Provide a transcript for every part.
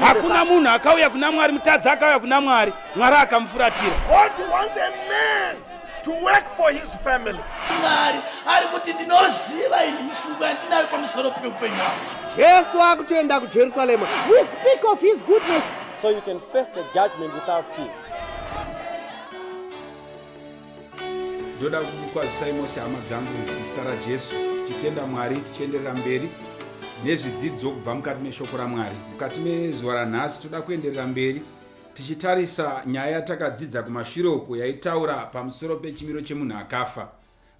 Hakuna munhu akauya kuna Mwari, mutadzi akauya kuna Mwari, Mwari akamufuratira. To work for his family. Mwari ari kuti ndinoziva ini mifungo yandinayo pamusoro peupenyu hwangu. Jesu akutoenda kuJerusalema. We speak of his goodness. So you can face the judgment without fear. ndoda kukwazisai mose hama dzangu muzita rajesu tichitenda mwari tichienderera mberi nezvidzidzo kubva mukati meshoko ramwari mukati mezuva ranhasi toda kuenderera mberi tichitarisa nyaya yatakadzidza kumashure uko yaitaura pamusoro pechimiro chemunhu akafa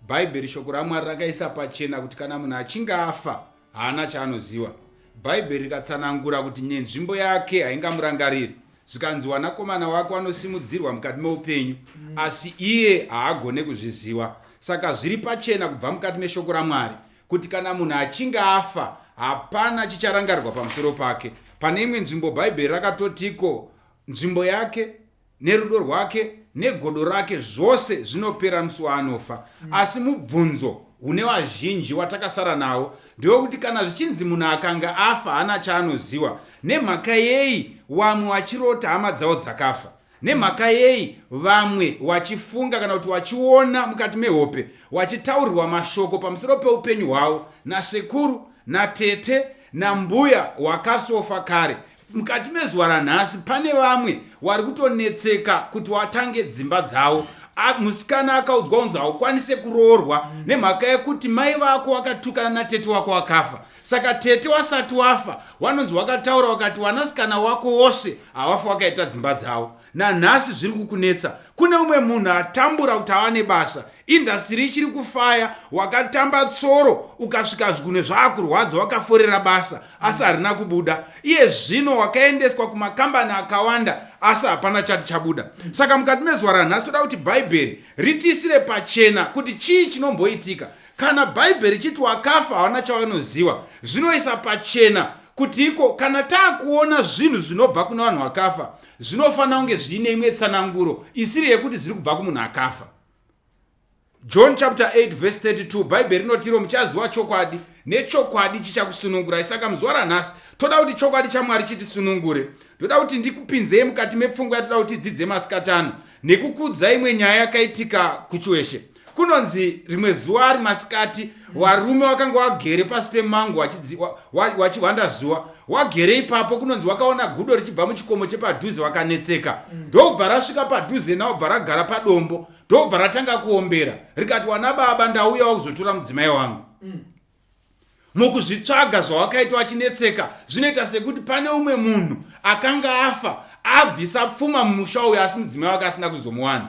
bhaibheri shoko ramwari rakaisa pachena kuti kana munhu achinge afa Haana chaanoziva. Bhaibheri rikatsanangura kuti nenzvimbo yake haingamurangariri zvikanzi wanakomana wako anosimudzirwa mukati meupenyu mm. asi iye haagone kuzviziva saka zviri pachena kubva mukati meshoko ramwari kuti kana munhu achinge afa hapana chicharangarirwa pamusoro pake pane imwe nzvimbo bhaibheri rakatotiko nzvimbo yake Nerudo rwake negodo rake zvose zvinopera musi waanofa. Mm. Asi mubvunzo une vazhinji watakasara nawo ndewekuti kana zvichinzi munhu akanga afa hana chaanoziwa nemhaka yei wamwe wachirota hama dzawo dzakafa nemhaka yei vamwe wachifunga kana kuti wachiona mukati mehope wachitaurirwa mashoko pamusoro peupenyu hwavo nasekuru natete nambuya wakasofa kare Mukati mezuva ranhasi pane vamwe wari kutonetseka kuti watange dzimba dzavo musikana akaudzwa unzi haukwanise kuroorwa nemhaka yekuti mai vako wakatukana natete wako wakafa saka tete wasati wafa wanonzi wakataura wakati wanasikana wako wose havafa wakaita dzimba dzavo nanhasi zviri kukunetsa kune umwe munhu atambura kuti ava nebasa indhasitiri ichiri kufaya wakatamba tsoro ukasvika zvigunwe zvaakurwadza wakaforera basa asi harina kubuda iye zvino wakaendeswa kumakambani akawanda asi hapana chati chabuda saka mukati mezuva ranhasi toda kuti bhaibheri ritiisire pachena kuti chii chinomboitika kana bhaibheri chiti wakafa hawana chawanoziva zvinoisa pachena kuti iko kana taakuona zvinhu zvinobva kuna vanhu vakafa zvinofanira kunge zviine imwe tsananguro isiri yekuti zviri kubva kumunhu akafa john chapter 8 verse 32 bhaibheri rinotiro muchaziva chokwadi nechokwadi chichakusunungurai saka muzuva ranhasi toda kuti chokwadi chamwari chitisunungure ndoda kuti ndikupinzei mukati mepfungwa yatoda kuti idzidze masikatano nekukudzai imwe nyaya yakaitika kuchiweshe kunonzi rimwe zuva ari masikati warume wakanga wagere pasi pemango wachihwanda zuva wagere ipapo kunonzi wakaona gudo richibva muchikomo chepadhuze wakanetseka ndokubva rasvika padhuze nawo bva ragara padombo ndokubva ratanga kuombera rikati wana baba ndauya wakuzotora mudzimai wangu mukuzvitsvaga zvawakaita wachinetseka zvinoita sekuti pane umwe munhu akanga afa abvisa pfuma mumusha uyo asi mudzimai wake asina kuzomuwana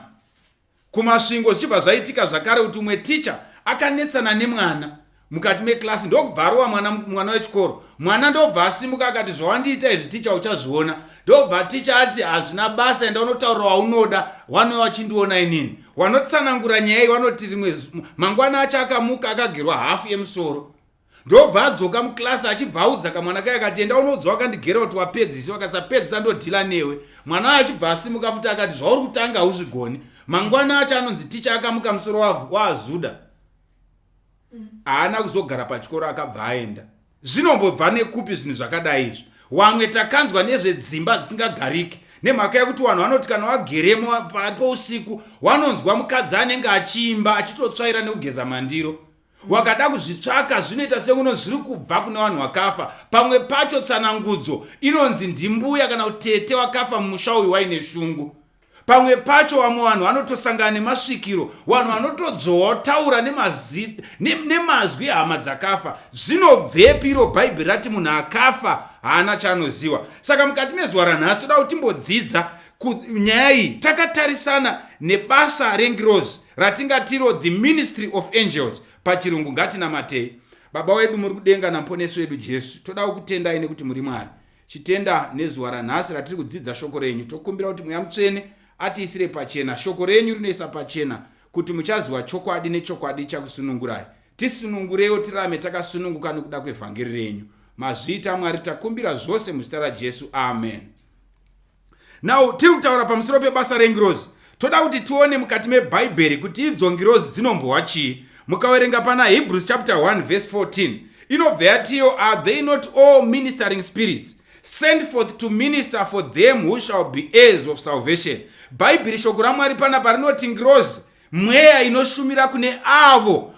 kuMasvingo zvichibva zvaitika zvakare kuti umwe ticha akanetsana nemwana mukati mekilasi ndokubva arova mwana mwana wechikoro mwana ndobva asimuka akati zvawandiita izvi ticha uchazviona ndobva ticha ati hazvina basa enda unotaura waunoda wanova wachindiona inini wanotsanangura nyaya iyi wanoti rimwe mangwana acho akamuka akagerwa hafu yemusoro ndobva adzoka muclass achibva audza kamwana kaye akati enda unoudza wakandigera kuti wapedzisa wakasapedzisa ndodhila newe mwana ayo achibva asimuka futi akati zvauri kutanga hauzvigoni mangwana acho anonzi ticha akamuka musoro waazuda haana kuzogara pachikoro akabva aenda zvinombobva nekupi zvinhu zvakadai izvi wamwe takanzwa nezvedzimba dzisingagariki nemhaka yekuti vanhu vanoti kana wageremo pausiku wanonzwa mukadzi anenge achiimba achitotsvaira nekugeza mandiro wakada kuzvitsvaka zvinoita sekuno zviri kubva kune vanhu vakafa pamwe pacho tsanangudzo inonzi ndimbuya kana kuti tete wakafa mumusha uyu waine shungu pamwe pacho vamwe vanhu vanotosangana nemasvikiro vanhu vanotodzowa otaura nemazwi ehama dzakafa zvinobvepi iro bhaibheri rati munhu akafa haana chaanoziva saka mukati mezuva ranhasi toda kuti timbodzidza nyaya iyi takatarisana nebasa rengirozi ratingatiro the ministry of angels pachirungu ngatinamatei baba wedu muri kudenga namuponesi wedu jesu toda kukutendai nekuti muri mwari chitenda nezuva ranhasi ratiri kudzidza shoko renyu tokumbira kuti mweya mutsvene atiisire pachena shoko renyu rinoisa pachena kuti muchaziva chokwadi nechokwadi chakusunungurai tisunungurewo tirame takasununguka nokuda kwevhangeri renyu mazviita mwari takumbira zvose muzita rajesu amen now tiri kutaura pamusoro pebasa rengirozi toda kuti tione mukati mebhaibheri kuti idzo ngirozi dzinombohwa chii mukaverenga pana hebrews chapter 1 vese 14 inobva yatiyo are they not all ministering spirits send forth to minister for them who shall be heirs of salvation bhaibheri shoko ramwari panapa rinoti ngirozi mweya inoshumira kune avo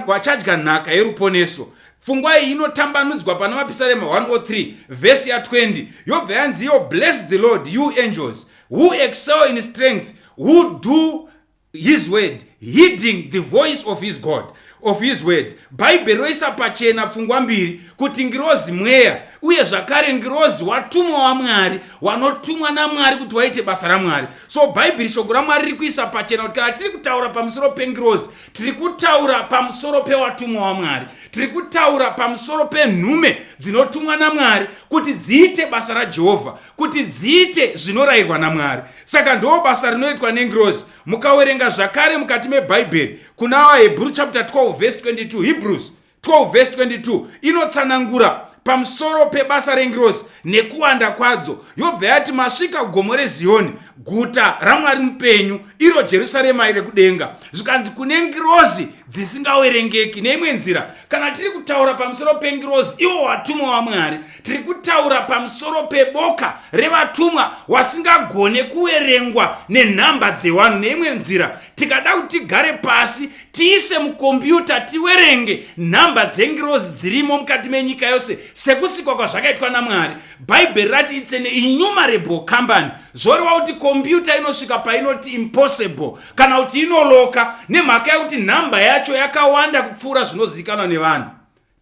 vachadya nhaka yeruponeso pfungwa iyi inotambanudzwa pana mapisarema 103 vhesi ya20 yobva yanzi yo bless the lord you angels who excel in strength who do his word heeding the voice of his god of his word bhaibheri roisa pachena pfungwa mbiri kuti ngirozi mweya uye zvakare ngirozi watumwa wamwari wanotumwa namwari kuti waite basa ramwari so bhaibheri shoko ramwari riri kuisa pachena kuti kana tiri kutaura pamusoro pengirozi tiri kutaura pamusoro pewatumwa wamwari tiri kutaura pamusoro penhume dzinotumwa namwari kuti dziite basa rajehovha kuti dziite zvinorayirwa namwari saka ndoo basa rinoitwa nengirozi mukawerenga zvakare mukati mebhaibheri kuna vahebhuru chapter 12 vhesi 22 hebrews 12 vhesi 22 inotsanangura pamusoro pebasa rengirozi nekuwanda kwadzo yobva yati masvika gomo reziyoni guta ramwari mupenyu iro jerusarema iri kudenga zvikanzi kune ngirozi dzisingawerengeki neimwe nzira kana tiri kutaura pamusoro pengirozi iwo watumwa wamwari tiri kutaura pamusoro peboka revatumwa wasingagone kuverengwa nenhamba dzevanhu neimwe nzira tikada kuti tigare pasi tiise mukombiyuta tiverenge nhamba dzengirozi dzirimo mukati menyika yose sekusikwa kwazvakaitwa namwari bhaibheri rati itse neinnumerable company zvoreva kuti kombiyuta inosvika painoti impossible kana kuti inoloka nemhaka yekuti nhamba yacho yakawanda kupfuura zvinozivikanwa nevanhu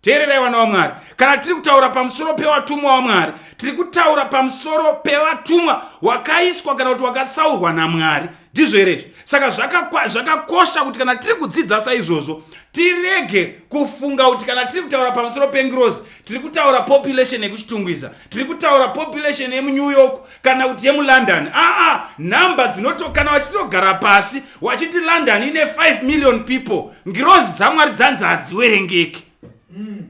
teererai vana vamwari kana tiri kutaura pamusoro pevatumwa vamwari tiri kutaura pamusoro pevatumwa wakaiswa kana kuti wakatsaurwa namwari ndizvo here izvi saka zvakakosha kuti kana tiri kudzidza saizvozvo tirege kufunga kuti kana tiri kutaura pamusoro pengirozi tiri kutaura population yekuchitungwiza tiri kutaura population yemunew york kana kuti yemulondon aa nhamba dzinotokana wachitogara pasi wachiti london ine 5 million people ngirozi dzamwari dzanzi hadziwerengeki mm.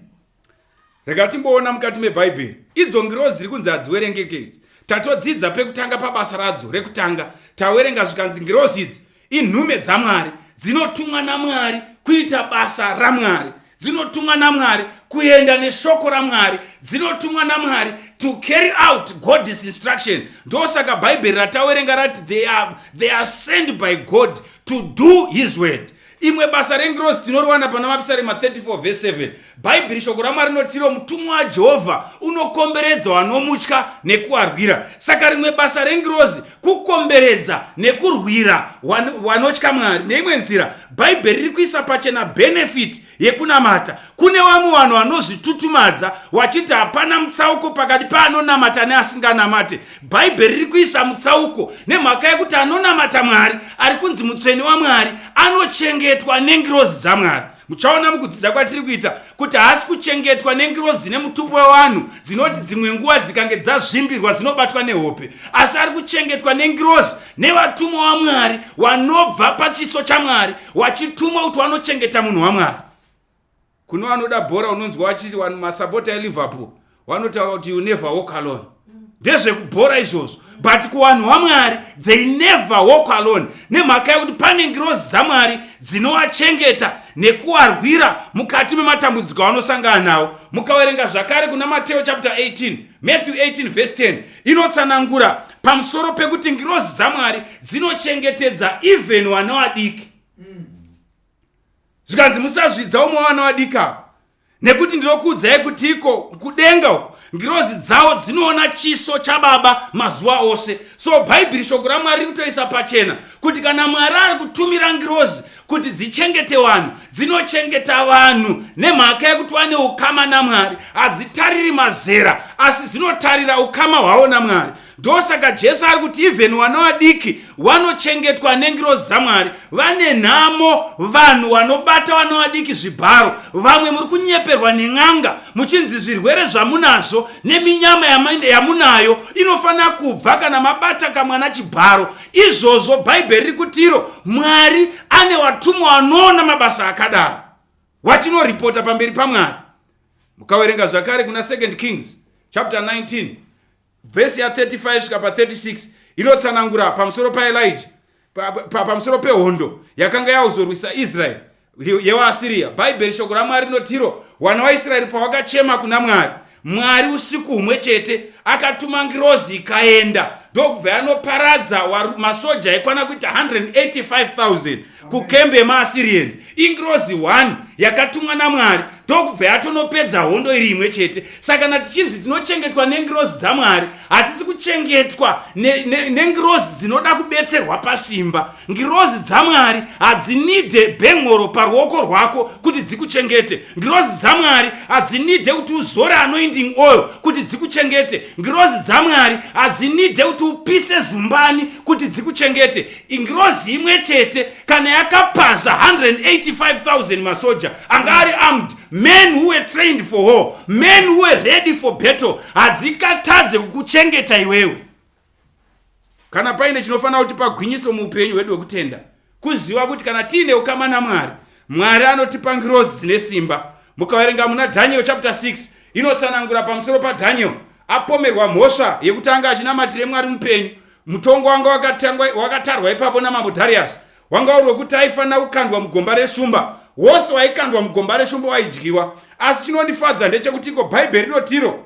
rega timboona mukati mebhaibheri idzo ngirozi dziri kunzi hadziwerengeki idzi tatodzidza pekutanga pabasa radzo rekutanga tawerenga zvikanzi ngirozi idzi inhume dzamwari dzinotumwa namwari kuita basa ramwari dzinotumwa namwari kuenda neshoko ramwari dzinotumwa namwari to carry out god's instruction ndosaka bhaibheri ratawerenga rati they are, they are sent by god to do his word imwe basa rengirozi tinoriwana pana mapisarema 34 vese 7 Bhaibheri shoko raMwari rinotiro mutumwa waJehovha unokomberedza wanomutya nekuwarwira. Saka rimwe basa rengirozi kukomberedza nekurwira wanotya Mwari. Neimwe nzira, Bhaibheri riri kuisa pachena benefit yekunamata. Kune vamwe vanhu vanozvitutumadza wachiti hapana mutsauko pakati paanonamata neasinganamate. Bhaibheri riri kuisa mutsauko nemhaka yekuti anonamata Mwari ari kunzi mutsvene waMwari anochengetwa nengirozi dzaMwari. muchaona mukudzidza kwatiri kuita kuti haasi kuchengetwa nengirozi nemutupo wevanhu dzinoti dzimwe nguva dzikange dzazvimbirwa dzinobatwa nehope asi ari kuchengetwa nengirozi nevatumwa wamwari wanobva pachiso chamwari wachitumwa kuti wanochengeta munhu wamwari kune vanoda bhora unonzwa vachiti masapota eliverpool wanotaura kuti you never walk alone ndezvekubhora izvozvo but kuvanhu vamwari they never walk alone nemhaka yekuti pane ngirozi dzamwari dzinovachengeta nekuvarwira mukati mematambudziko avanosangana nawo mukaverenga zvakare kuna mateo chapter 18 matthew 18 vese 10 inotsanangura pamusoro pekuti ngirozi dzamwari dzinochengetedza even vana vadiki zvikanzi musazvidza umwe vana vadiki avo nekuti ndinokuudzai kuti iko kudenga uko ngirozi dzawo dzinoona chiso chababa mazuva ose so bhaibheri shoko ramwari riri kutoisa pachena kuti kana mwari ari kutumira ngirozi kuti dzichengete vanhu dzinochengeta vanhu nemhaka yekuti vane ukama namwari hadzitariri mazera asi dzinotarira ukama hwavo namwari ndosaka jesu ari kuti even wana vadiki vanochengetwa nengirozi dzamwari vane nhamo vanhu vanobata wana vadiki zvibharo vamwe muri kunyeperwa nen'anga muchinzi zvirwere zvamunazvo neminyama yamunayo inofanira kubva kana mabata kamwana chibharo izvozvo bhaibheri riri kutiro mwari ane vatumwa vanoona mabasa akadaro vachinoripota pamberi pamwari mukaverenga zvakare kuna 2nd kings chapter 19 vhesi ya 35 svika pa 36 inotsanangura pamusoro paelija pamusoro pehondo yakanga yauzorwisa israeri yewaasiriya bhaibheri shoko ramwari rinotiro wana waisraeri pawakachema kuna mwari mwari usiku humwe chete akatuma ngirozi ikaenda ndokubva yanoparadza masoja ekwana kuita 185000 kukembe yemaasirians ingirozi 1 yakatumwa namwari ndokubva yatonopedza hondo iri imwe chete saka kana tichinzi tinochengetwa nengirozi dzamwari hatisi kuchengetwa nengirozi ne, ne dzinoda kubetserwa pasimba ngirozi dzamwari hadzinide bhengoro paruoko rwako kuti dzikuchengete ngirozi dzamwari hadzinide kuti uzore anoinding oil kuti dzikuchengete ngirozi dzamwari hadzinide kuti upise zumbani kuti dzikuchengete ingirozi imwe chete kana yakapaza 185000 masoja anga ari armed men who were trained for war men who were ready for battle hadzikatadze kukuchengeta iwewe kana paine chinofanira kuti pagwinyiso muupenyu hwedu hwekutenda kuziva kuti kana tiine ukama namwari mwari anotipa ngirozi dzine simba mukaverenga muna dhaniel chapter 6 inotsanangura pamusoro padhaniel apomerwa mhosva yekutanga achinamatire mwari mupenyu mutongo wanga wakatangwa wakatarwa ipapo namambo darius wanga uri wekuti aifanira kukandwa mugomba reshumba wose waikandwa mugomba reshumba waidyiwa asi chinondifadza ndechekuti iko bhaibheri rinotiro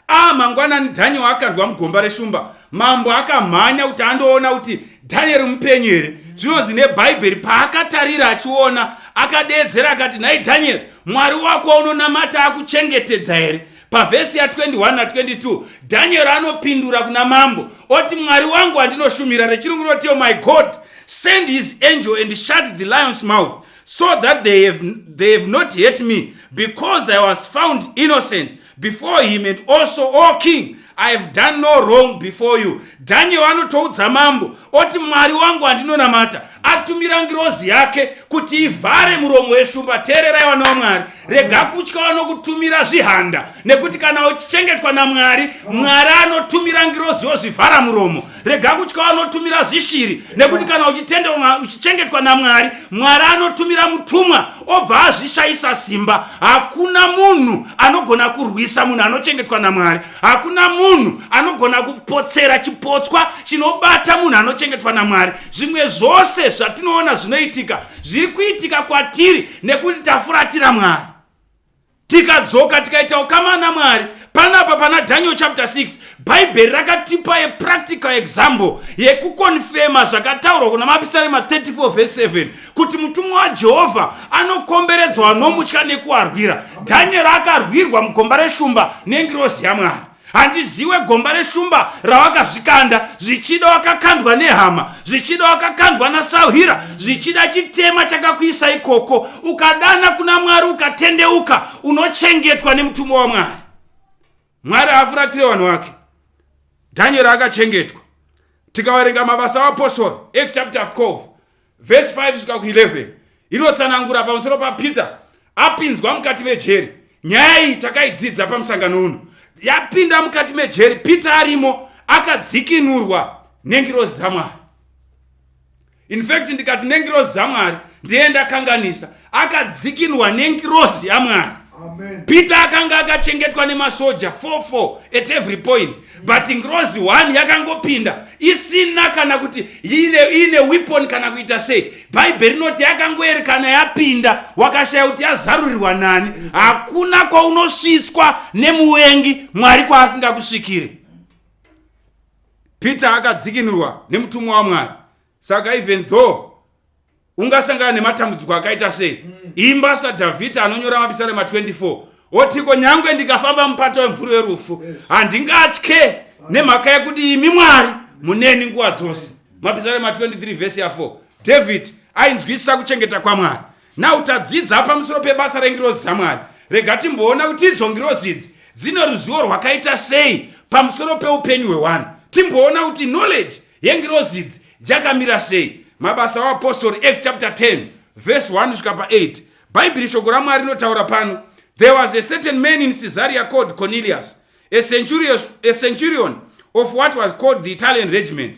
a ah, mangwanani dhanieri akandwa mugomba reshumba mambo akamhanya kuti andoona kuti dhanieri mupenyu here zvinonzi nebhaibheri paakatarira achiona akadeedzera akati nhai dhanieri mwari wako unonamata akuchengetedza here Pavhesi ya21 na22 Danieri anopindura kuna mambo oti, Mwari wangu wandinoshumira, rechirungu rinoti, oh my God, send his angel and shut the lion's mouth so that they have, they have not hurt me because I was found innocent before him and also, oh king, i have done no wrong before you daniel anotoudza mambo oti mwari wangu andinonamata atumira ngirozi yake kuti ivhare muromo weshumba teererai vana wamwari rega kutya vanokutumira zvihanda nekuti kana uchichengetwa namwari mwari anotumira ngirozi yozvivhara muromo rega kutya vanotumira zvishiri nekuti kana uchichengetwa namwari mwari anotumira mutumwa obva azvishayisa simba hakuna munhu anogona kurwisa munhu anochengetwa namwari hakuna munhu anogona kupotsera chipotswa chinobata munhu anochengetwa namwari zvimwe zvose zvatinoona zvinoitika zviri kuitika kwatiri nekuti tafuratira mwari tikadzoka tikaita ukama namwari panapa pana daniel chapter 6 bhaibheri rakatipa yepractical example yekukonfema zvakataurwa kuna mapisarema 34 vs 7 kuti mutumwa wajehovha anokomberedzwa vanomutya nekuarwira dhanieri akarwirwa mugomba reshumba nengirozi yamwari handiziwe gomba reshumba rawakazvikanda zvichida wakakandwa nehama zvichida wakakandwa nasahwira zvichida chitema chakakuisa ikoko ukadana kuna mwari ukatendeuka unochengetwa nemutumwa wamwari mwari haafuratire vanhu vake dhanyeri akachengetwa tikaverenga mabasa aapostora act chapter 12 vhesi 5 svika ku11 inotsanangura pamusoro papeter apinzwa mukati mejeri nyaya iyi takaidzidza pamusangano uno yapinda mukati mejeri peter arimo akadzikinurwa nengirozi dzamwari in fact ndikati nengirozi dzamwari ndiye ndakanganisa akadzikinwa nengirozi yamwari peter akanga akachengetwa nemasoja 44 at every point but ngirozi 1 yakangopinda isina kana kuti iine weapon kana kuita sei bhaibheri rinoti yakangoerekana yapinda wakashaya kuti yazarurirwa nani hakuna kwaunosvitswa nemuvengi mwari kwaasingakusvikire Peter akadzikinurwa nemutumwa waMwari. Saka even though ungasangana nematambudziko akaita sei, mm. imba saDhavhidha anonyora mapisarema 24 otiko nyangwe ndikafamba mupato wemvuri werufu handingatye nemhaka yekuti imi Mwari muneni nguva dzose. Mapisarema 23 vhesi ya 4 David ainzwisisa kuchengeta kwaMwari. Now tadzidza pamusoro pebasa rengirozi dzaMwari. Rega timboona kuti idzo ngirozi idzi dzine ruzivo rwakaita sei pamusoro peupenyu hwewanhu. Timboona kuti knowledge yengirozi idzi yakamira sei. Mabasa aApostori Acts chapter 10 verse 1 kusvika pa8. Bhaibheri shoko raMwari rinotaura pano. There was a certain man in Caesarea called Cornelius, a centurion, a centurion of what was called the Italian regiment.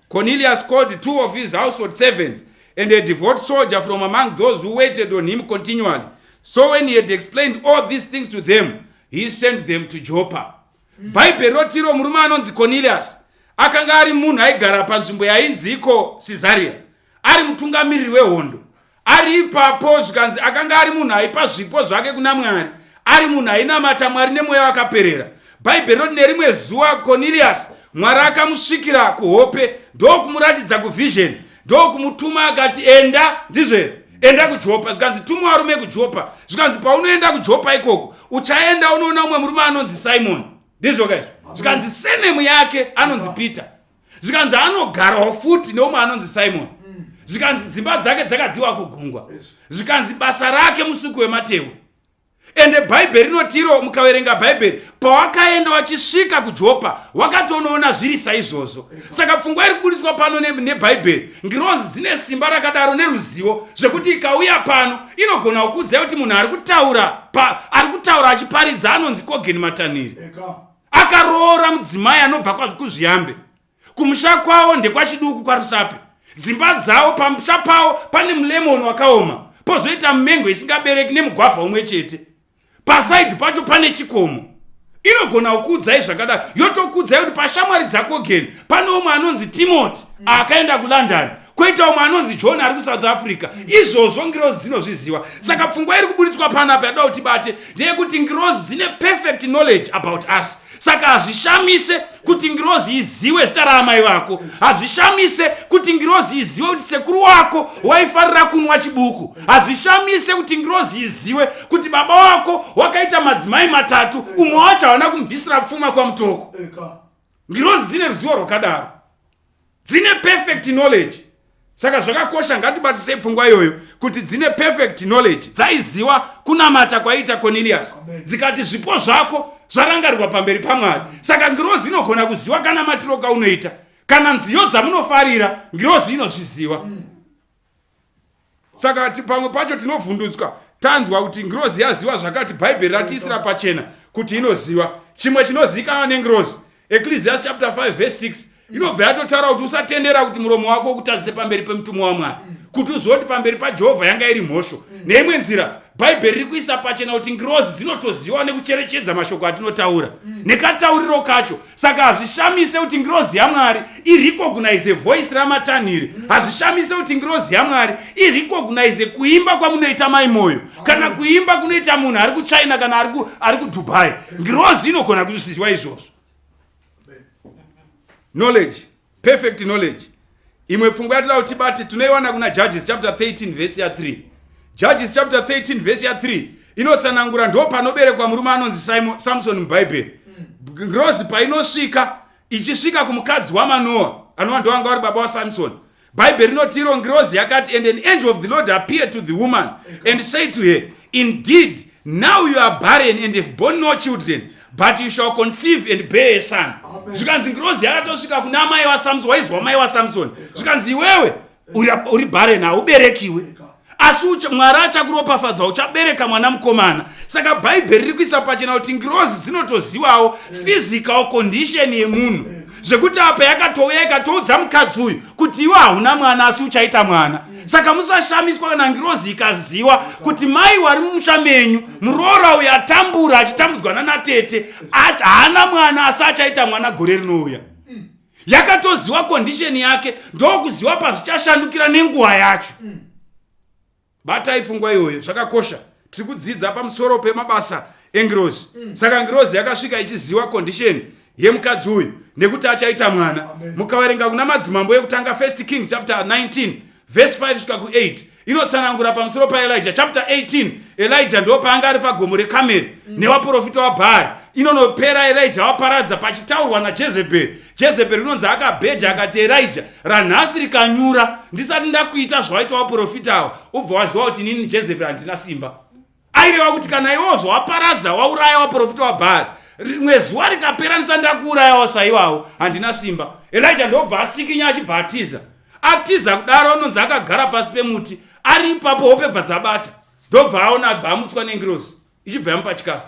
Cornelius called two of his household servants and a devout soldier from among those who waited on him continually. So when he had explained all these things to them, he sent them to Joppa. Mm. Bhaibheri rotiro murume anonzi Cornelius akanga ari munhu aigara panzvimbo yainzi iko Caesarea, ari mutungamiriri wehondo. ari ipapo zvikanzi akanga ari munhu aipa zvipo zvake kuna mwari ari munhu ainamata mwari nemweya wakaperera bhaibheri roti nerimwe zuva koniriyasi mwari akamusvikira kuhope ndokumuratidza kuvhizheni ndokumutuma akati enda ndizve enda kujopa zvikanzi tuma varume kujopa zvikanzi paunoenda kujopa ikoko uchaenda unoona umwe murume anonzi simoni ndizvoka izvi zvikanzi senemu yake anonzi peter zvikanzi anogarawo futi neumwe anonzi simon mm. zvikanzi dzimba dzake dzakadziwa kugungwa zvikanzi basa rake musuku wematehwe ende bhaibheri rinotiro mukaverenga bhaibheri pawakaenda wachisvika kujopa wakatonoona zviri saizvozvo saka pfungwa iri kubudiswa pano nebhaibheri ngirozi dzine simba rakadaro neruzivo zvekuti ikauya pano inogona kukuudzai kuti munhu ari kutaura ari kutaura achiparidza anonzi kogeni matanhiri akaroora mudzimai anobva kwazvikuzviyambe kumusha kwavo ndekwachiduku kwarusape dzimba dzavo pamusha pavo pane mulemoni wakaoma pozoita mumengo isingabereki nemugwavha umwe chete pasaidi pacho pane chikomo inogona kukuudzai zvakadaro yotokuudzai kuti pashamwari dzako geni pane umwe anonzi timoti akaenda kulondon kwoita umwe anonzi john ari kusouth africa izvozvo ngirozi dzinozviziva saka pfungwa iri kubuditswa panapo yatoda kuti bate ndeyekuti ngirozi dzine perfect knowledge about us saka hazvishamise kuti ngirozi iziwe zita raamai vako hazvishamise kuti ngirozi iziwe kuti sekuru wako waifarira kunwa chibuku hazvishamise kuti ngirozi iziwe kuti baba wako wakaita madzimai matatu umwe wacho hawana kumubvisira pfuma kwamutoko ngirozi dzine ruzivo rwakadaro dzine perfect knowledge saka zvakakosha ngatibatisei pfungwa iyoyo kuti dzine perfect knowledge dzaiziva kunamata kwaiita cornelius dzikati zvipo zvako zvarangarirwa pamberi pamwari saka ngirozi inogona kuziva kana matiro kaunoita kana nziyo dzamunofarira ngirozi inozviziva mm. saka pamwe pacho tinovhundutswa tanzwa kuti ngirozi yaziva zvakati bhaibheri ratiisira pachena kuti inoziva chimwe chinozivikanwa nengirozi ecclesias chapter 5 verse 6 inobva yatotaura kuti usatendera kuti muromo wako ukutadzise pamberi pemutumwa wamwari kuti uzive kuti pamberi pajehovha yanga iri mhosho neimwe nzira bhaibheri riri kuisa pachena kuti ngirozi dzinotoziva nekucherechedza mashoko atinotaura mm. nekatauriro kacho saka hazvishamise kuti ngirozi yamwari irecognize voice ramatanhiri mm. hazvishamise kuti ngirozi yamwari irecognize kuimba kwamunoita mai moyo oh. kana kuimba kunoita munhu ari kuchina kana ari kudubai ngirozi inogona kuzvisiziwa izvozvo knowledge Perfect knowledge. Imwe pfungwa yatira kuti bati tunoiwana kuna Judges chapter 13 verse ya 3. Judges chapter 13 verse ya 3 inotsanangura ndo panoberekwa murume anonzi Simon Samson muBhaibheri. Mm. Ngirozi painosvika ichisvika kumukadzi waManoa anova ndo anga vari baba waSamson. Bhaibheri rinoti iro ngirozi yakati and an angel of the Lord appeared to the woman and said to her indeed now you are barren and have born no children but you shall conceive and bear a son zvikanzi ngirozi yakatosvika kuna amai wasamson waizwa mai wasamson zvikanzi iwewe uri barren hauberekiwe asi mwari achakuropafadza uchabereka mwana mukomana saka bhaibheri riri kuisa pachena kuti ngirozi dzinotozivawo physical condition yemunhu zvekuti apa yakatouya ikatoudza mukadzi uyu kuti iwe hauna mwana asi uchaita mwana saka musashamiswa kana ngirozi ikaziwa kuti mai wari mumusha menyu muroora uyu atambura achitambudzwa nanatete haana mwana asi achaita mwana gore rinouya yakatoziwa kondisheni yake ndokuziwa pazvichashandukira nenguva yacho mm. batai pfungwa iyoyo zvakakosha tiri kudzidza pamusoro pemabasa engirozi mm. saka ngirozi yakasvika ichiziva condition yemukadzi uyu nekuti achaita mwana mukaverenga kuna madzimambo yekutanga first kings chapter 19 verse 5 svika ku8 inotsanangura pamusoro paelija chapter 18 elija ndo paanga ari pagomo rekameri mm. nevaprofita wabhaari inonopera elija waparadza pachitaurwa najezebheri jezebheri rinonzi akabheja akati erija ranhasi rikanyura ndisati ndakuita zvawaita waprofita awa ubva waziva kuti inini jezebheri handina simba aireva kuti kana iwewo zvawaparadza wauraya waprofita wabhaari rimwe zuva rikapera ndisati ndakuurayawo saiwawo handina simba elija ndobva asikinya achibva atiza atiza kudaro anonzi akagara pasi pemuti ari ipapo hope bva dzabata ndobva aona abva amutswa nengirozi ichibva yamupa chikafu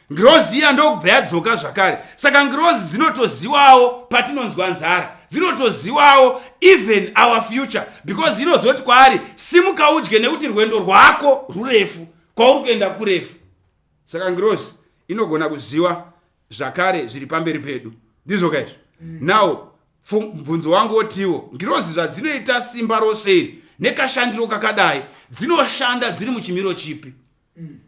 ngirozi iya ndokubva yadzoka zvakare saka ngirozi dzinotoziwawo patinonzwa nzara dzinotoziwawo even our future because inozoti kwaari simuka udye nekuti rwendo rwako rurefu kwauri kuenda kurefu saka ngirozi inogona kuziva zvakare zviri pamberi pedu ndizvo kaizvo mm. now mubvunzo wangu wotiwo ngirozi zvadzinoita simba rose iri nekashandiro kakadai dzinoshanda dziri muchimiro chipi mm.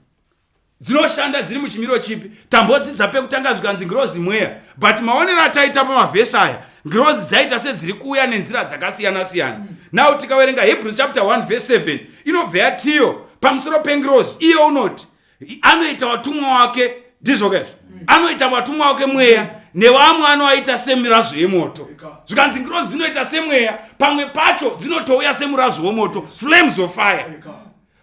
dzinoshanda dziri muchimiro chipi tambodzidza pekutanga zvikanzi ngirozi mweya but maonero ataita pamavhesi aya ngirozi dzaita sedziri kuuya nenzira dzakasiyana siyana mm. now tikaverenga hebrews chapter 1 verse 7 inobva yatiyo pamusoro pengirozi iye unoti anoita vatumwa wake ndizvo kezvo mm. anoita vatumwa wake mweya mm nevamwe anoaita semirazvo yemoto zvikanzi ngirozi dzinoita semweya pamwe pacho dzinotouya semurazvo wemoto flames of fire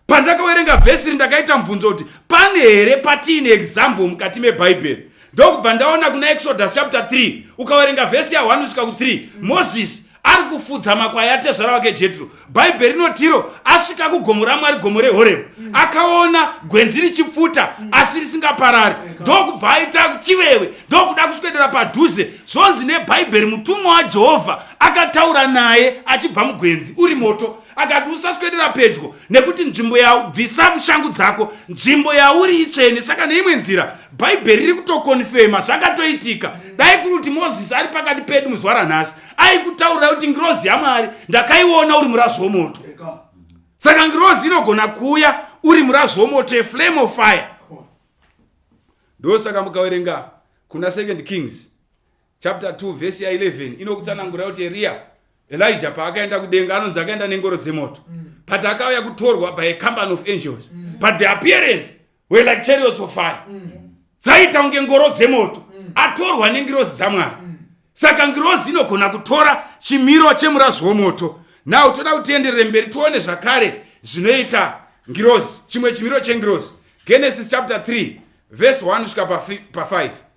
pandakaverenga vhesi iri ndakaita mubvunzo kuti pane here patiine example mukati mebhaibheri ndokubva ndaona kuna exodus chapter 3 ukaverenga vhesi ya1 svika ku3 moses ari kufudza makwai atezvara wake jetro bhaibheri rinotiro asvika kugomo ramwari gomo rehorebhu mm. akaona gwenzi richipfuta mm. asi risingaparari ndokubva aita chivewe ndokuda kuswedera padhuze zvonzi nebhaibheri mutumwa wajehovha akataura naye achibva mugwenzi uri moto akati usaswedera pedyo nekuti nzvimbo ya bvisa shangu dzako nzvimbo yauri itsvene saka neimwe nzira bhaibheri riri kutokonfema zvakatoitika dai kuri kuti mozisi ari pakati pedu muzuva ranhasi aikutaurira kuti ngirozi yamwari ndakaiona uri murazvi womoto saka ngirozi inogona kuuya uri murazvi womoto eflame of fire ndosaka mukaverenga kuna second kings chapter 2 vhesi ya 11 inokutsanangura kuti eriya elija paakaenda kudenga anonzi akaenda nengoro dzemoto mm. but akauya kutorwa by a company of angels mm. but the appearance were like chariots of fire mm. dzaita mm. kunge ngoro dzemoto mm. atorwa nengirozi dzamwari mm. saka ngirozi inogona kutora chimiro chemurazi womoto now toda kutienderere mberi tione zvakare zvinoita ngirozi chimwe chimiro chengirozi genesis chapter 3 vhesi 1 kusvika pa5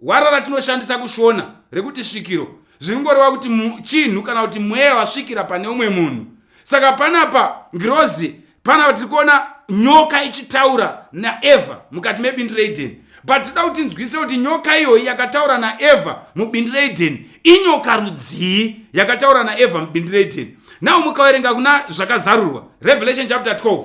Gwara ratinoshandisa kuShona rekuti svikiro zviringoreva kuti chinhu kana kuti mweya wasvikira pane umwe munhu. Saka panapa ngirozi panapa tiri kuona nyoka ichitaura naEvha mukati mebindu reEdheni but tinoda kuti nzwise kuti nyoka iyoyi yakataura naevha mubindi reedheni inyoka rudzii yakataura naevha mubindi reedheni now mukaverenga kuna zvakazarurwa revelation chapter 12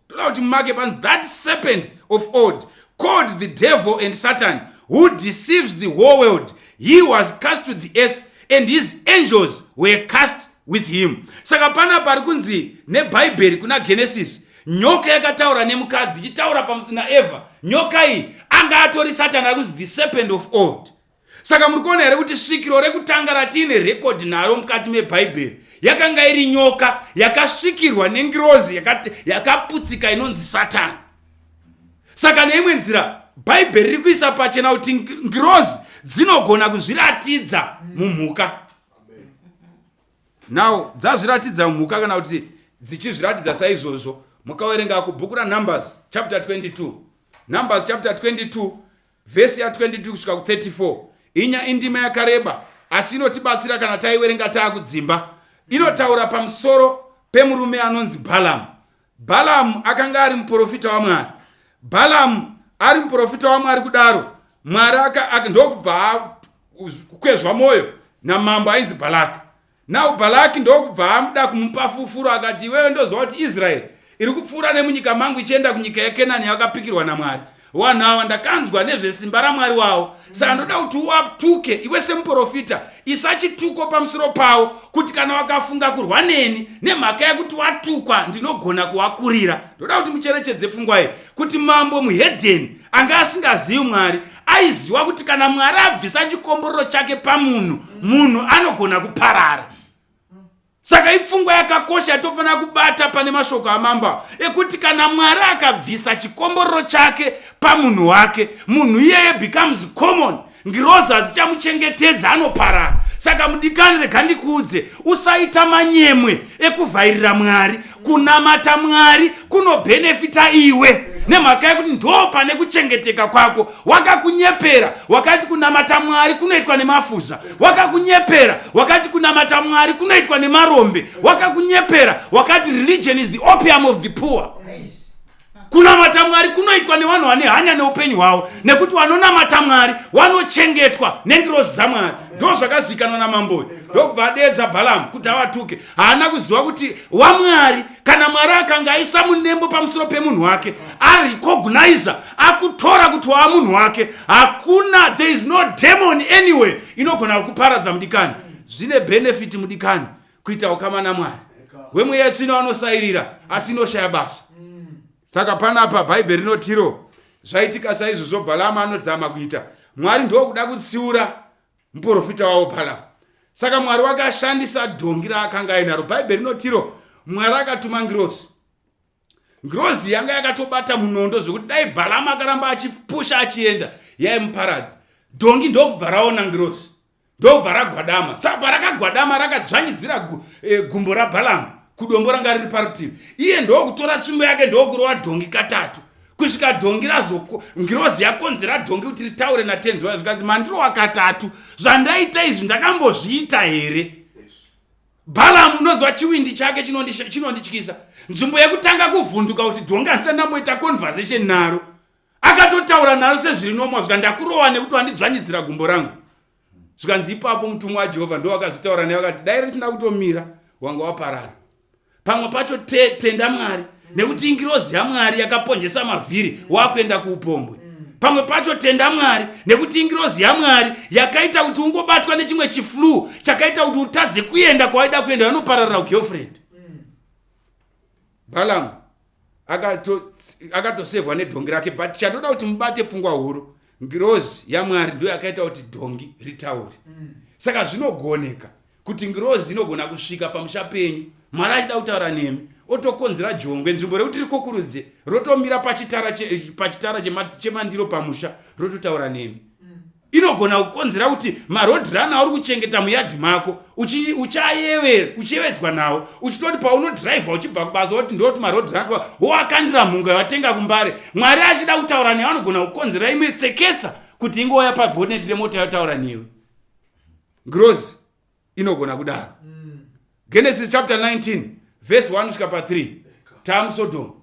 toda kuti mumake panzi that serpent of old called the devil and satan who deceives the whole world he was cast to the earth and his angels were cast with him saka pana pari kunzi nebhaibheri kuna genesis nyoka yakataura nemukadzi ichitaura pamusina eva nyoka iyi anga atori satani ari kunzi the serpent of old Saka muri kuona here kuti svikiro rekutanga ratiine rekodhi naro mukati mebhaibheri yakanga iri nyoka yakasvikirwa nengirozi yakaputsika inonzi satani saka neimwe nzira bhaibheri riri kuisa pachena kuti ngirozi dzinogona kuzviratidza mumhuka now dzazviratidza mumhuka kana kuti dzichizviratidza saizvozvo mukaverenga kubhuku ranumbers chapter 22 numbers chapter 22 Vhesi ya 22 kusvika ku 34 inya indima yakareba asi inotibatsira kana taiwerenga taakudzimba. Inotaura pamusoro pemurume anonzi Balaam. Balaam akanga ari muprofita waMwari. Balaam ari muprofita waMwari kudaro Mwari ndokubva kukwezva mwoyo namambo ainzi Balaka. Now Balaki ndokubva amuda kumupa fufuro akati, iwewe ndoziva kuti Israeri iri kupfuura nemunyika mangu ichienda kunyika yeKenani yakapikirwa naMwari. Vanhu ava ndakanzwa nezvesimba raMwari wavo, saka ndoda kuti uwaptuke iwe semuprofita, isa chituko pamusoro pavo, kuti kana wakafunga kurwa neni nemhaka yekuti watukwa ndinogona kuwakurira. Ndoda kuti mucherechedze pfungwa iyi. kuti mambo muhedheni anga asingazivi mwari aiziva kuti kana mwari abvisa chikomborero chake pamunhu munhu anogona kuparara saka ipfungwa yakakosha yatofanira kubata pane mashoko amamba ekuti kana mwari akabvisa chikomborero chake pamunhu wake munhu iyeye becomes common ngirozi hadzichamuchengetedza anoparara saka mudikani rega ndikuudze usaita manyemwe ekuvhairira mwari kunamata mwari kunobhenefita iwe nemhaka yekuti ndo pane kuchengeteka kwako wakakunyepera wakati kunamata mwari kunoitwa nemafuza wakakunyepera wakati kunamata mwari kunoitwa nemarombe wakakunyepera wakati religion is the opium of the poor kunamata mwari kunoitwa nevanhu vane hanya neupenyu hwavo nekuti vanonamata mwari vanochengetwa nengirozi dzamwari ndo zvakazivikanwa namamboyo ndokubva adeedza bhalamu kuti avatuke haana kuziva kuti wamwari kana mwari akanga aisa munembo pamusoro pemunhu wake arecognisa akutora kuti waa munhu wake hakuna there is no demon anyway inogona kukuparadza mudikani zvine benefiti mudikani kuita ukama namwari wemweya tsvino anosairira asi inoshaya basa mm. saka panapa bhaibheri rinotiro zvaitika saizvozvo bhalama anodzama kuita mwari ndokuda kutsiura muprofita wavo bhalama saka mwari wake ashandisa dhongi raakanga ainaro bhaibheri rinotiro mwari akatuma ngirozi ngirozi yanga yakatobata munondo zvekuti dai bhalama akaramba achipusha achienda yaimuparadzi dhongi ndokubva raona ngirozi ndobva ragwadama saka parakagwadama rakadzvanyidzira gu, e, gumbo rabhalamu kudombo ranga riri parutivi iye ndokutora tsvimbo yake ndokurova dhongi katatu kusvika dhongi razoko ngirozi yakonzera dhongi kuti ritaure natenzi wayo zvikanzi mandirova katatu zvandaita izvi ndakambozviita here bhalamu unoziva chiwindi chake chinondityisa nzvimbo yekutanga kuvhunduka kuti dhongi handisandamboita conversation naro akatotaura naro sezviri nomwa zvika ndakurova nekuti wandidzvanyidzira gumbo rangu zvikanzi ipapo mutumwa wajehovha ndo wakazitaura naye vakati dai risina kutomira wanga waparara pamwe pacho te, tenda mwari nekuti ingirozi yamwari yakaponjesa mavhiri wakuenda kuupombwe pamwe pacho tenda mwari nekuti ingirozi yamwari yakaita kuti ungobatwa nechimwe chiflu chakaita kuti utadze kuenda kwawaida kuenda vanopararira ugirlfriend balamu akatosevhwa aka nedhongi rake but chandoda kuti mubate pfungwa huru ngirozi yamwari ndo yakaita kuti dhongi ritaure mm. saka zvinogoneka kuti ngirozi inogona kusvika pamusha penyu mwari achida kutaura nemi otokonzera jongwe nzvimbo rekuti rikokurudze rotomira pachitara chemandiro pamusha rototaura nemi inogona kukonzera kuti marodhirana auri kuchengeta muyadhi mako uchayevedzwa nawo uchitoti paunodhiraivha uchibva kubasa woti ndoti marodhirana tova wowakandira mhunga yawatenga kumbare mwari achida kutaura newe anogona kukonzera imwe tseketsa kuti ingouya paboneti remota yotaura newe grozi inogona kudaro mm. genesis chapter 19 vhesi 1 svika pa 3 taamusodhomu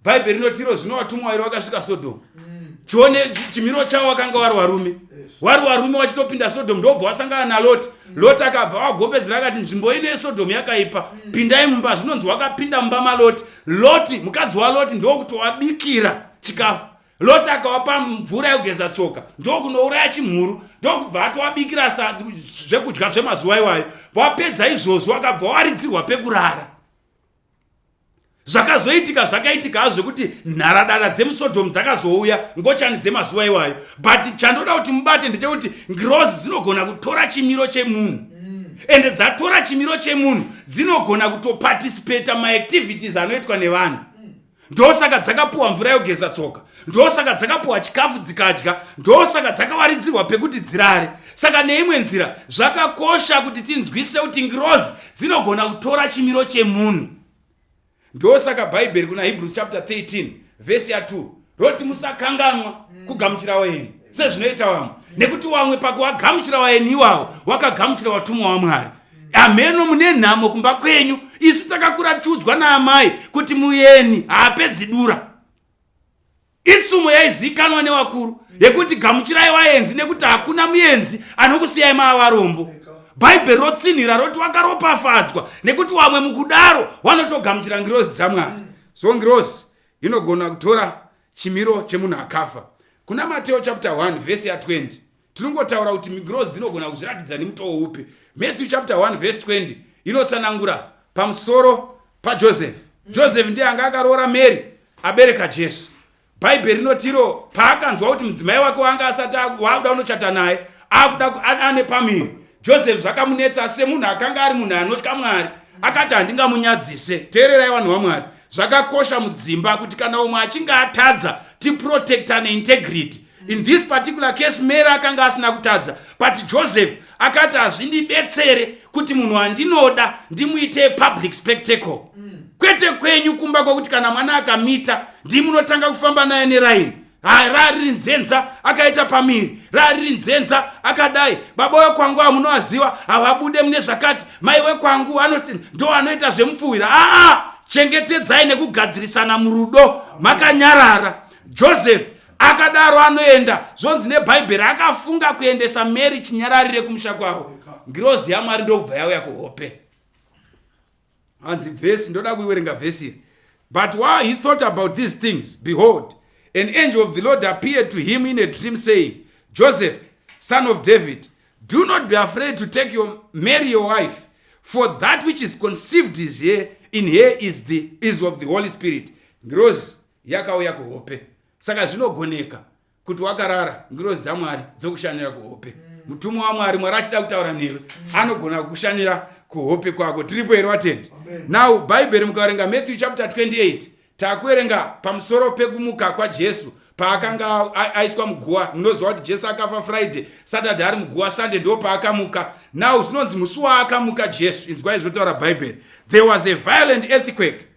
bhaibheri rinotiro zvino vatumwa vairi vakasvika sodhomu mm. chione chimiro chavo vakanga vari varume wari varume vachitopinda sodhomu ndobva wasangana naloti mm. loti akabva vagombedzera akati nzvimbo ino yesodhomu yakaipa mm. pindai mumba zvinonzi wakapinda mumba maloti loti mukadzi waloti ndokuti wabikira chikafu loti akawapa mvura yekugeza tsoka ndokunouraya chimhuru ndokubva atowabikira zvekudya zvemazuva iwayo wapedza izvozvo akabva waridzirwa pekurara zvakazoitika zvakaitika hazvo kuti nharadada dzemusodhomu dzakazouya ngochani dzemazuva iwayo but chandoda kuti mubate ndechekuti ngirozi dzinogona kutora chimiro chemunhu mm. ende dzatora chimiro chemunhu dzinogona kutoparticipata maactivities anoitwa nevanhu ndosaka dzakapuwa mvura yogeza tsoka ndosaka dzakapuwa chikafu dzikadya ndosaka dzakawaridzirwa pekuti dzirare saka neimwe nzira zvakakosha kuti tinzwise kuti ngirozi dzinogona kutora chimiro chemunhu ndosaka bhaibheri kuna hebrews chapter 13 vhesi ya 2 roti musakanganwa kugamuchira wenyu sezvinoita vamwe nekuti wamwe pakuwagamuchira waeni iwawo wakagamuchira watumwa wamwari ameno mune nhamo kumba kwenyu isu takakura tiudzwa naamai kuti muyeni haapedzi dura itsumo yaizikanwa newakuru yekuti gamuchirai waenzi nekuti hakuna muyenzi anokusiyai maavarombo bhaibheri rotsinhira roti wakaropafadzwa nekuti wamwe mukudaro wanotogamuchira ngirozi dzamwari so ngirozi inogona kutora chimiro chemunhu akafa kuna mateo chapter 1 vhesi ya 20 tinongotaura kuti ngirozi dzinogona kuzviratidza nemutoo upi matthew chapter 1 verse 20 inotsanangura pamusoro pajoseph joseph ndiye anga akaroora mary abereka jesu bhaibheri rinotiro paakanzwa kuti mudzimai wake waanga asati waakuda unochata naye akuda ane pamiri joseph zvakamunetsa semunhu akanga ari munhu anotya mwari akati handingamunyadzise teererai vanhu vamwari zvakakosha mudzimba kuti kana umwe achinge atadza tiprotecta neintegrity in this particular case mary akanga asina kutadza but joseph akati hazvindibetsere kuti munhu andinoda ndimuite public spectacle kwete kwenyu kumba kwekuti kana mwana akamita ndimunotanga kufamba naye neraini hai raariri nzenza akaita pamiri raariri nzenza akadai baba wekwangu amunoaziva havabude mune zvakati mai wekwangu anoti ndo anoita zvemupfuhwira aa chengetedzai nekugadzirisana murudo makanyarara joseph akadaro anoenda zvonzi nebhaibheri akafunga kuendesa mary chinyararire kumusha kwavo ngirozi yamwari ndokubva yauya kuhope hanzi vhesi ndoda kuiwerenga vhesi iri but while he thought about these things behold an angel of the lord appeared to him in a dream saying joseph son of david do not be afraid to take your mary your wife for that which is conceived is here in her is, the, is of the holy spirit ngirozi yakauya kuhope saka zvinogoneka kuti wakarara ngirozi dzamwari dzokushanira kuhope mm. mutumwa mm. wamwari mwari achida kutaura newe mm. anogona kukushanira kuhope kwako tiripo here watendi now bhaibheri mukaverenga matthew chapter 28 takuverenga pamusoro pekumuka kwajesu paakanga aiswa muguwa munoziva kuti jesu akafa friday saturday ari muguwa sunday ndo paakamuka now zvinonzi musi waakamuka jesu inzwai zvotaura bhaibheri there was a violent earthquake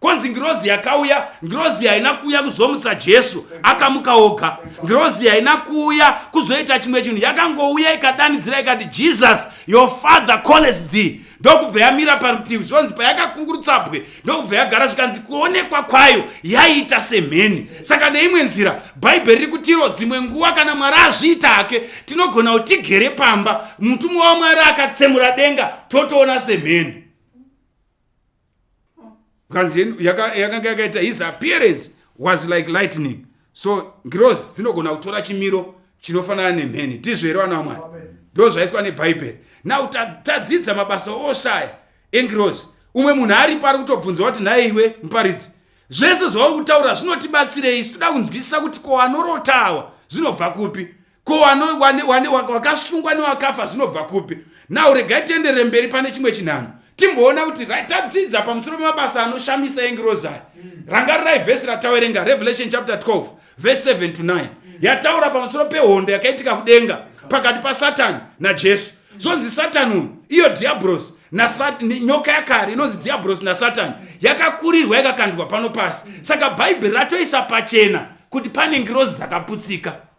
kwanzi ngirozi yakauya ngirozi haina kuuya kuzomutsa jesu akamuka oga ngirozi haina kuuya kuzoita chimwe chinhu yakangouya ikadanidzira ikati jesus your father calls thee ndokubva yamira parutivi zvonzi payakakungurutsabwe ndokubva yagara zvikanzi kuonekwa kwayo yaiita semheni saka neimwe nzira bhaibheri riri kutiro dzimwe nguva kana mwari azviita hake tinogona kuti tigere pamba mutumwa wamwari akatsemura denga totoona semheni kanzi yakanga yaka yakaita his appearance was like lightning so ngirozi dzinogona kutora chimiro chinofanana nemheni ndizvo here vana vamwari ndo zvaiswa nebhaibheri now tadzidza mabasa oshaya engirozi umwe munhu ari pari kutobvunza kuti nhaye iwe muparidzi zvese zvauri kutaura zvinotibatsirei isu toda kunzwisisa kuti ko anorotawa zvinobva kupi ko wakasungwa newakafa zvinobva kupi now regai tiendere mberi pane chimwe chinhano timboona kuti right tadzidza pamusoro pemabasa anoshamisa engirozi aya mm. rangarirai vhesi ratawerenga revelation chapter 12 verse 7 to 9 mm. yataura pamusoro pehondo yakaitika kudenga pakati pasatani najesu mm. zvonzi satani uyu iyo dhiabrosi nyoka yakare inonzi dhiabrosi nasatani yakakurirwa yakakandwa pano pasi saka bhaibheri ratoisa pachena kuti pane ngirozi dzakaputsika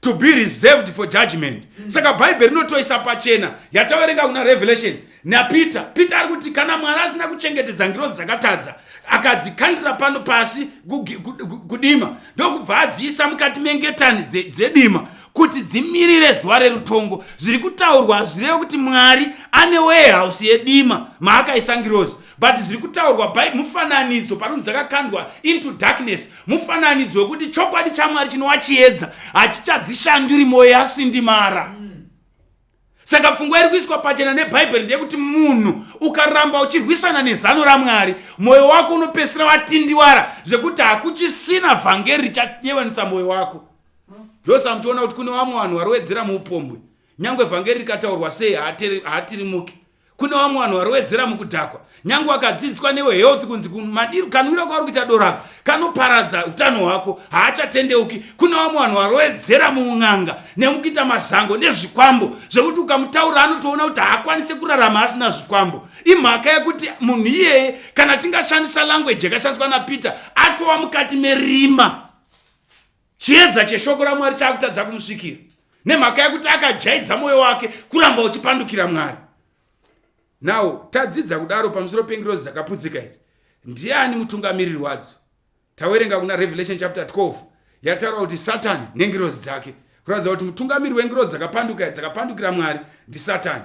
to be reserved for judgment mm. saka bhaibheri rinotoisa pachena yataverenga kuna revelation napeter peter ari kuti kana mwari asina kuchengetedza ngirozi dzakatadza akadzikandira pano pasi kudima ndokubva adziisa mukati mengetani dzedima dze kuti dzimirire zuva rerutongo zviri kutaurwa hazvirevi kuti mwari ane warehouse yedima maakaisa ngirozi but zviri kutaurwa by mufananidzo panonzi dzakakandwa into darkness mufananidzo wekuti chokwadi chamwari chinova chiedza hachichadzishanduri mwoyo yasindimara saka pfungwa iri kuiswa pachena nebhaibheri ndeyekuti munhu ukaramba uchirwisana nezano ramwari mwoyo wako unopesira watindiwara zvekuti hakuchisina vhangeri richayevanisa mwoyo wako ndosa muchiona kuti kune vamwe vanhu varowedzera muupombwe nyange vhangeri rikataurwa sei haatirimuki kune vamwe vanhu varowedzera mukudhakwa nyange wakadzidziswa newe health kunzi madiro kanwiro kauri kuita dorako kanoparadza utano hwako haachatendeuki kune vamwe vanhu varowedzera muun'anga nemukuita mazango nezvikwambo zvekuti ukamutaura anotoona kuti haakwanise kurarama asina zvikwambo imhaka yekuti munhu iyeye kana tingashandisa language yakashandiswa napeter atova mukati merima Chiedza cheshoko raMwari chakutadza kumusvikira nemhaka yekuti akajaidza mwoyo wake kuramba uchipandukira Mwari. Now tadzidza kudaro pamusoro pengirozi dzakaputsika idzi. Ndiani mutungamiriri wadzo? Tawerenga kuna Revelation chapter 12 yataura kuti Satani nengirozi dzake. Kuratidza kuti mutungamiri wengirozi dzakapanduka dzakapandukira Mwari ndiSatani.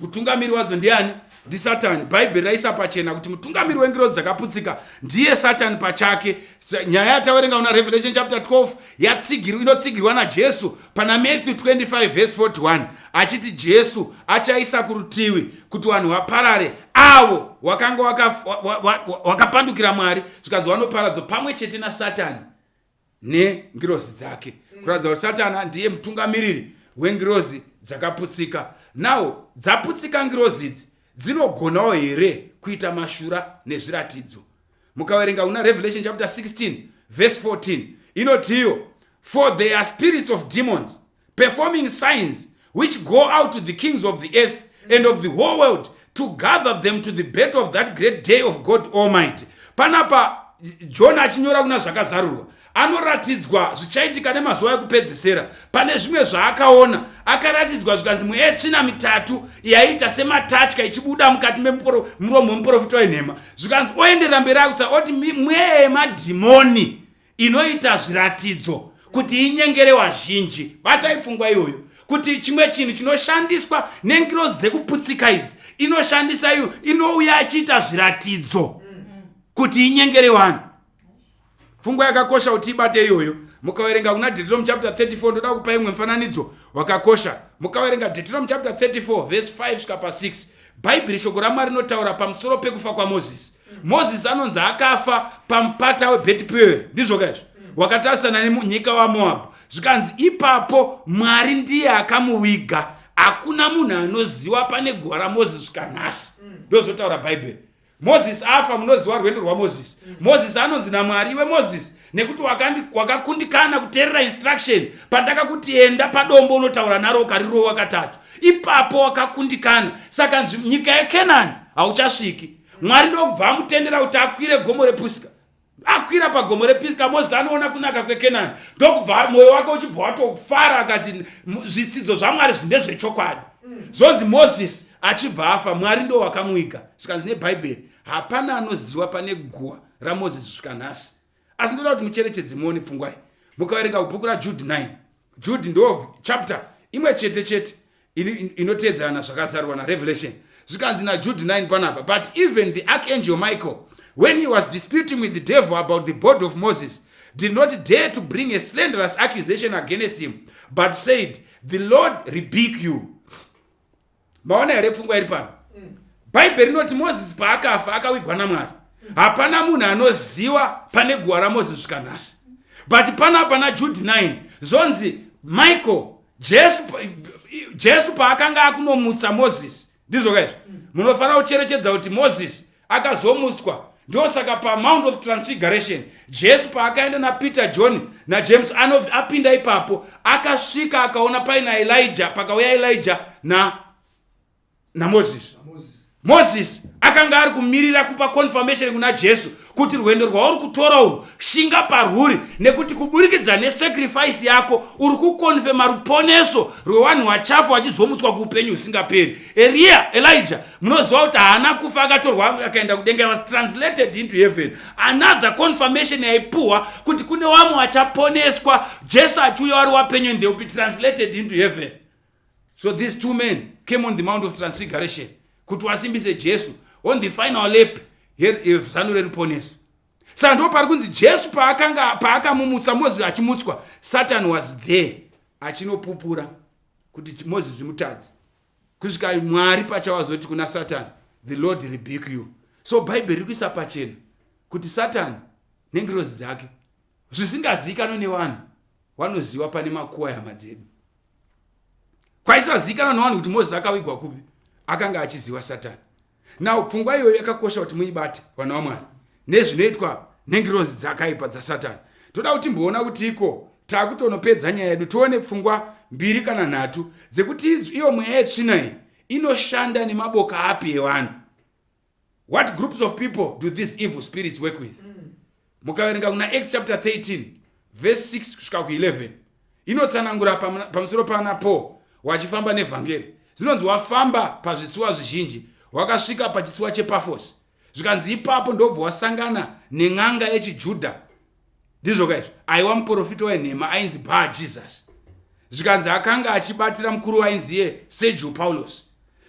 mutungamiri wadzo ndiani ndisatani bhaibheri raisa pachena kuti mutungamiri wengirozi dzakaputsika ndiye satani pachake nyaya yataverenga una revelation chapter 12 yatsigirwa inotsigirwa najesu pana matthew 25 vhesi 41 achiti jesu achaisa kurutivi kuti vanhu vaparare avo wakanga wakapandukira mwari zvikanzi vanoparadzwa pamwe chete nasatani nengirozi dzake kuratidza kuti satana ndiye mutungamiriri wengirozi dzakaputsika nawo dzaputsika ngirozi idzi dzinogonawo here kuita mashura nezviratidzo mukaverenga una revelation chapter 16 verse 14 inotiyo for their spirits of demons performing signs which go out to the kings of the earth and of the whole world to gather them to the bet of that great day of god almighty panapa jona achinyora kuna zvakazarurwa anoratidzwa zvichaitika nemazuva ekupedzisera pane zvimwe zvaakaona akaratidzwa zvikanzi mweya yetsvina mitatu yaiita sematatya ichibuda mukati memuromo wemuprofita wenhema zvikanzi oenderera mberi akutsa oti mweya yemadhimoni inoita zviratidzo kuti inyengere wazhinji batai pfungwa iyoyo kuti chimwe chinhu chinoshandiswa nengirozi dzekuputsika idzi inoshandisa iyo inouya achiita zviratidzo kuti inyengere vanhu pfungwa yakakosha kuti ibate iyoyo mukaverenga kuna deuteronomy chapter 34 ndoda kupa imwe mufananidzo wakakosha mukaverenga deuteronomy chapter 34 vese 5 svika pa 6 bhaibheri shoko ramwari rinotaura pamusoro pekufa kwamozisi mozisi anonzi akafa pamupata webheti peweri ndizvo kaizvo wakatarisana nemunyika wamoabhu zvikanzi ipapo mwari ndiye akamuviga hakuna munhu anoziva pane guva ramozisi zvikanhasi ndozotaura bhaibheri mozisi afa munoziva rwendo rwamozisi mozisi anonzi namwari iwe mozisi nekuti wakakundikana kuteerera instruction pandakakuti enda padombo unotaura naro ukarirowa katatu ipapo wakakundikana saka nyika yekenani hauchasviki mwari ndokubva amutendera kuti akwire gomo repisika akwira pagomo repisika mozisi anoona kunaka kwekenani ndokubva mwoyo wake uchibva watofara akati zvitsidzo zvamwari zvine zvechokwadi zvonzi mozisi achibva afa mwari ndo wakamuiga zvikanzi nebhaibheri hapana anoziva pane guwa ramozisi zvikanhasi asi ndoda kuti mucherechedze muone pfungwa iyi mukaverenga bhuku rajude 9 jude ndo chapter imwe chete chete inoteedzerana zvakazarurwa narevelation zvikanzi najude 9 panapa but even the archangel michael when he was disputing with the devil about the body of moses did not dare to bring a slanderous accusation against him but said the lord rebuke you maona here pfungwa iri pano mm. bhaibheri rinoti mozisi paakafa akawigwa namwari hapana munhu anoziva pane guva ramozisi svika nhasi but pana pana jude 9 zvonzi michael jesu jesu paakanga akunomutsa mozisi ndizvoka izvi munofanira kucherechedza kuti mozisi akazomutswa ndosaka pamount of transfiguration jesu paakaenda napeter john najames anov apinda ipapo akasvika akaona paina elija pakauya elija na namozisi mozisi akanga ari kumirira kupa confirmation kuna jesu kuti rwendo rwauri kutora urwu shinga parwuri nekuti kuburikidza nesacrifice yako uri kukonfema ruponeso rwewanhu wachafa wachizomutswa kuupenyu husingaperi Eria, Elijah, munoziva kuti haana kufa akatorwa akaenda kudenga, he was translated into heaven. Another confirmation yaipuhwa kuti kune wamwe wachaponeswa, Jesu achiuya wari wapenyu and they will be translated into heaven. So these two men came on the Mount of Transfiguration kuti wasimbise Jesu on the final lap zano reruponeso. Saka ndipo pari kunzi Jesu paakamumutsa, moziva achimutswa, Satan was there achinopupura kuti moses mutadzi kusvika mwari pachawazoti kuna satani the lord rebuke you so bhaibheri riri kuisa pachena kuti satani nengirozi dzake zvisingazivikanwe nevanhu wanoziva pane makuwa yehama dzedu kwaisazivikanwa nevanhu kuti moses akavigwa kupi akanga achiziva satani now pfungwa iyoyo yakakosha kuti muibate vana vamwari nezvinoitwa nengirozi dzakaipa dzasatani toda kuti mboona kuti iko taakutonopedza nyaya yedu tione pfungwa mbiri kana nhatu dzekuti iyo mweya yetsvina iyi inoshanda nemaboka api evanhu what groups of people do these evil spirits work with mm. mukaverenga kuna acts chapter 13 verse 6 kusvika ku11 inotsanangura pamusoro pana paul wachifamba nevhangeri zvinonzi wafamba pazvitsuwa zvizhinji wakasvika pachitsuwa chepafos zvikanzi ipapo ndobva wasangana nen'anga yechijudha ndizvo kaizvo aiwa muprofita wenhema ainzi baa jesus zvikanzi akanga achibatira mukuru wainzi iye sergio paulos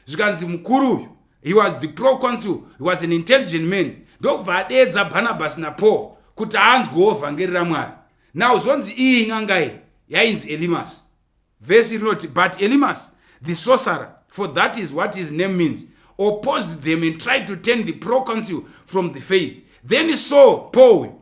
zvikanzi mukuru uyu he was the pro consul he was an intelligent man ndokubva adeedza barnabas napaul kuti anzwewo vhangeri ramwari now zvonzi iyi n'angai yainzi elimas vhesi rinoti but elimas the sorcerer for that is what his name means opposed them and tried to turn the pro consul from the faith then saw paul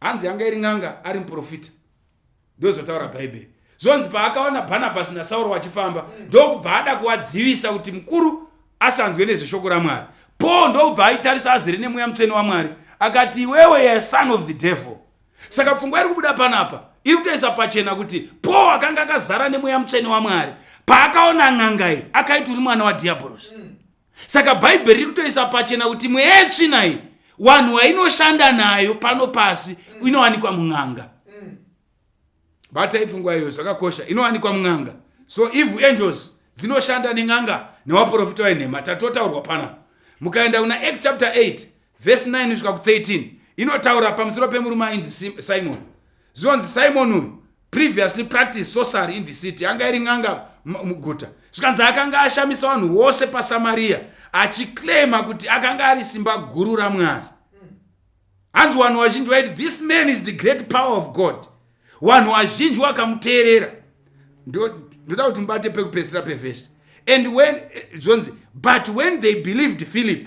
hanzi yanga iri n'anga ari muprofita ndozvotaura bhaibheri zvonzi paakaona bhanabhasi nasauro vachifamba ndokubva ada kuvadzivisa kuti mukuru asanzwe nezveshoko ramwari paul ndokubva aitarisa azere nemweya mutsvene wamwari akati iwewe ye son of the devil saka pfungwa iri kubuda panapa iri kutoisa pachena kuti paul akanga akazara nemweya mutsvene wamwari paakaona n'angai akaiti uri mwana wadhiabhorosi mm. saka bhaibheri riri kutoisa pachena kuti mweya yetsvina iyi wanhu wainoshanda nayo pano pasi mm. inowanikwa mun'anga mm. bata ipfungwa iyo zvakakosha inowanikwa mun'anga so evil angels dzinoshanda nen'anga newaprofita wenhema tatotaurwa pana mukaenda kuna act chapter 8 Vhesi 9 kusvika ku13 inotaura pamusoro pemurume ainzi Simoni. Zvinonzi Simoni uyu previously practiced sorcery in the city, anga iri n'anga muguta. Zvikanzi akanga ashamisa vanhu vose paSamaria achiclaima kuti akanga ari simba guru raMwari. Hanzi vanhu vazhinji vaiti this man is the great power of God. Vanhu vazhinji vakamuteerera. Ndoda kuti mubate pekupedzisira pevhesi. And when eh, zvonzi but when they believed Philip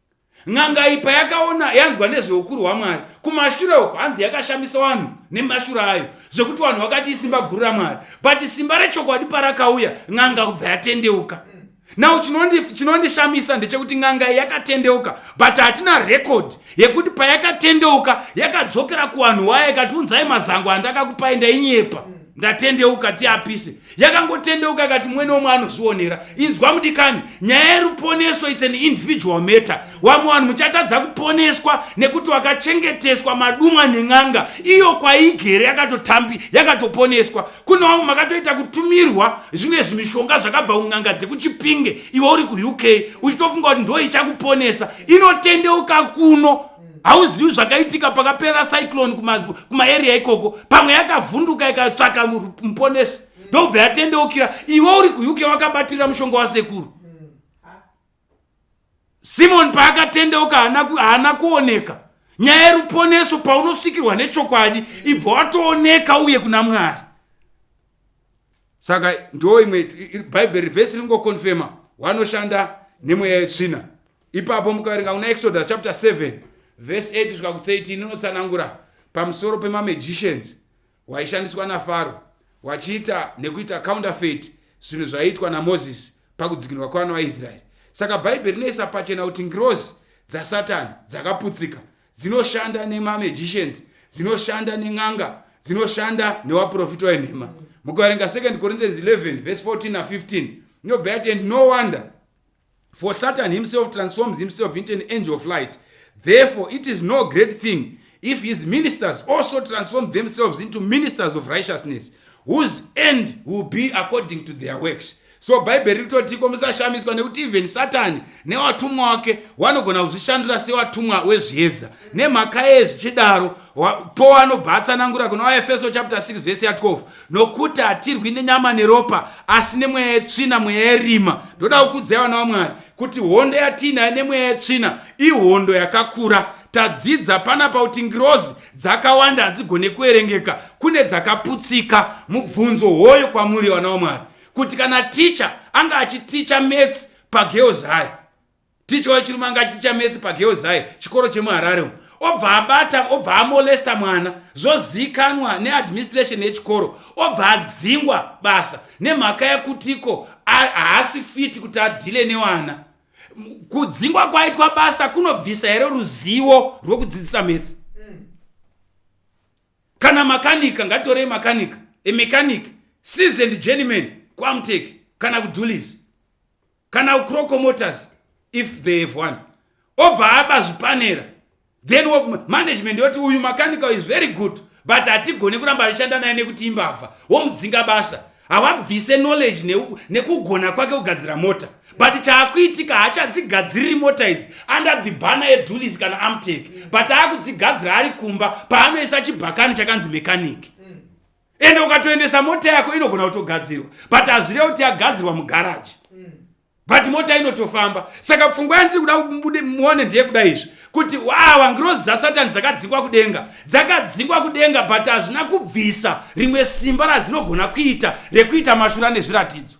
n'anga iyi payakaona yanzwa nezveukuru hwamwari kumashure uko hanzi yakashamisa vanhu nemashura ayo zvekuti vanhu vakati isimba guru ramwari but simba rechokwadi parakauya n'anga kubva yatendeuka now chinondishamisa ndechekuti n'anga iyi yakatendeuka but hatina rekodi yekuti payakatendeuka yakadzokera kuvanhu wayo ikatiunzai mazango andakakupai ndainyepa ndatendeuka tiapise yakangotendeuka ikati mwene womwe anozvionera inzwa mudikani nyaya yeruponeso its an individual matter wamwe vanhu muchatadza kuponeswa nekuti wakachengeteswa madumwa nen'anga iyo kwaigere yakatotambi yakatoponeswa kune vamwe makatoita kutumirwa zvimwe zvimishonga zvakabva kun'anga dzekuchipinge iwe uri kuuk uchitofunga kuti ndo ichakuponesa inotendeuka kuno hauzivi zvakaitika pakapera cyclone kumaeria ikoko pamwe yakavhunduka ikatsvaka muponesi ndobva yatendeukira iwe uri kuuk wakabatirira mushonga wasekuru simoni paakatendeuka haana kuoneka nyaya yeruponeso paunosvikirwa nechokwadi ibva watooneka uye kuna mwari saka ndoo imwe bhaibheri vhesi ringokonfema wanoshanda nemweya yetsvina ipapo mukaverenga kuna exodus chapter 7 vhesi 8 svika ku13 inotsanangura pamusoro pemamagicians waishandiswa nafaro wachiita nekuita counterfeit zvinhu zvaiitwa namozisi pakudzikinurwa kwevana vaisraeri saka bhaibheri rinoisa pachena kuti ngirozi dzasatani dzakaputsika dzinoshanda nemamagicians dzinoshanda nen'anga dzinoshanda newaprofita wenhema mukaverenga 2 corinthians 11 vhesi 14 na15 inobva yati and no wonder For Satan himself transforms himself into an angel of light. Therefore, it is no great thing if his ministers also transform themselves into ministers of righteousness, whose end will be according to their works. so bhaibheri ritotiko musashamiswa nekuti even satani newatumwa wake wanogona kuzvishandura sewatumwa wezviedza nemhaka yezvichidaro po anobva atsanangura kuna waefeso chapter 6 vese ya 12 nokuti hatirwi nenyama neropa asi nemweya yetsvina mweya yerima ndoda kukudzai vana vamwari kuti hondo yatiinayo nemweya yetsvina ihondo yakakura tadzidza pana pakuti ngirozi dzakawanda hadzigone kuerengeka kune dzakaputsika mubvunzo hoyo kwamuri vana vamwari kuti kana ticha anga achiticha metsi pageozai ticha wechirume anga achiti chametsi pagirls high chikoro chemuharare umu obva abata obva amolesta mwana zvozikanwa neadministration yechikoro obva adzingwa basa nemhaka yekutiko haasi fiti kuti adhile newana kudzingwa kwaitwa basa kunobvisa here ruzivo rwekudzidzisa metsi kana makanika ngatorei makanika emechanic seasoned journeyman kuamtek kana kudulis kana ucroco motors if they have one obva aba zvipanera then management yoti uyu mechanical is very good but hatigone kuramba achishanda naye nekuti imbavha womudzinga basa hawabvise knowledge nekugona ne kwake kugadzira mota but chaakuitika hachadzigadziriri mota idzi under the banner yedulis kana amtek but aakudzigadzira ari kumba paanoisa chibhakani chakanzi mechanic ende ukatoendesa mota yako inogona kutogadzirwa but hazvireva kuti yagadzirwa mugaraji mm. but mota inotofamba saka pfungwa yandiri kuda kubude muone ndiye kuda izvi kuti wawa ngirozi dzasatani dzakadzingwa kudenga dzakadzingwa kudenga but hazvina kubvisa rimwe simba radzinogona kuita rekuita mashura nezviratidzo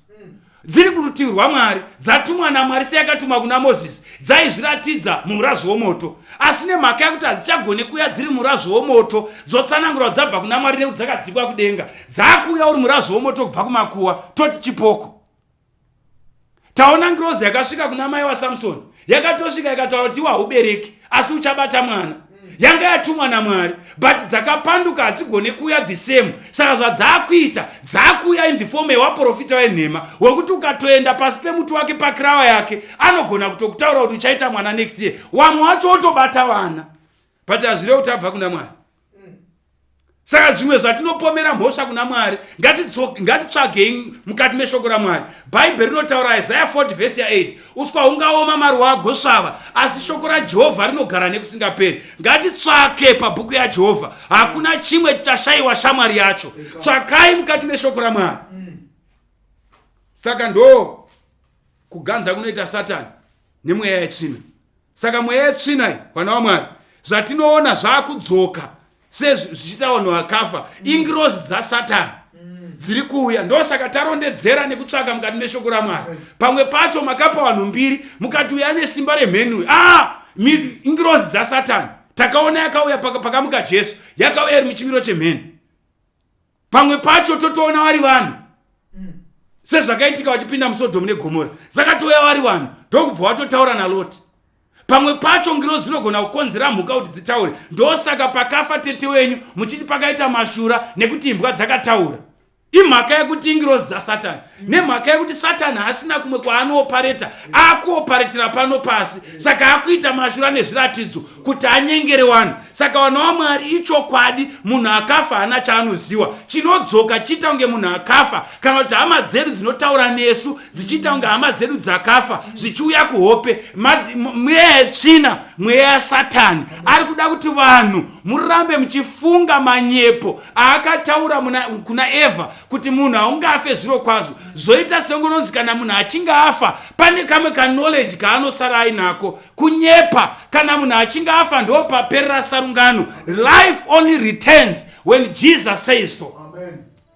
dziri kurutivi rwamwari dzatumwa namwari seyakatuma kuna mozisi dzaizviratidza mumurazvo womoto asi nemhaka yekuti hadzichagone kuuya dziri murazvo womoto dzotsanangurwa dzabva kuna mwari nekuti dzakadzikwa kudenga dzaakuuya uri murazvo womoto kubva kumakuwa toti chipoko taona ngirozi yakasvika kuna mai wasamsoni yakatosvika ikataura kuti iwa ubereki asi uchabata mwana yanga yatumwa namwari but dzakapanduka hadzigone kuuya the same saka zvadzaakuita dzaakuuya in the form yewaprofita wenhema wekuti ukatoenda pasi pemuti wake pakirawa yake anogona kutokutaura kuti uchaita mwana next year wamwe wacho wotobata vana but hazvireve kuti abva kuna mwari saka zvimwe zvatinopomera mhosva kuna mwari ngatitsvagei mukati meshoko ramwari bhaibheri rinotaura isaya 40 vhesi ya8 uswa hungaoma maruwa agosvava asi shoko rajehovha rinogara nekusingaperi ngatitsvake pabhuku yajehovha hakuna chimwe chichashayiwa shamwari yacho tsvakai mukati meshoko ramwari saka ndo kuganza kunoita satani nemweya yetsvina saka mweya yetsvina iyi vana vamwari zvatinoona zvaakudzoka sezvichiita vanhu vakafa ingirozi dzasatani dziri kuuya ndosaka tarondedzera nekutsvaka mukati meshoko ramwari pamwe pacho makapa vanhu mbiri mukati uya nesimba remhenui a ah! ingirozi dzasatani takaona yakauya pakamuka jesu yakauya iri muchimiro chemheni pamwe pacho totoona vari vanhu mm. sezvakaitika vachipinda musodhomu negomora zakatouya vari vanhu ndokubva watotaura naloti pamwe pacho ngiro zinogona kukonzera mhuka kuti dzitaure ndosaka pakafa tete wenyu muchiti pakaita mashura nekuti imbwa dzakataura imhaka yekuti ingirozi dzasatani nemhaka yekuti satani haasina kumwe kwaanoopareta akuoparetera pano pasi saka akuita mashura ane zviratidzo kuti anyengere vanhu saka vana wamwari ichokwadi munhu akafa haana chaanoziwa chinodzoka chiita kunge munhu akafa kana kuti hama dzedu dzinotaura nesu dzichiita kunge hama dzedu dzakafa zvichiuya kuhope mweya yetsvina mweya yasatani ari kuda kuti vanhu murambe muchifunga manyepo aakataura kuna evha kuti munhu haungafe zviro kwazvo zvoita seungononzi kana munhu achinge afa pane kamwe kanoleji kaanosara ainako kunyepa kana munhu achinge afa ndo paperera sarungano life only returns when jesus says so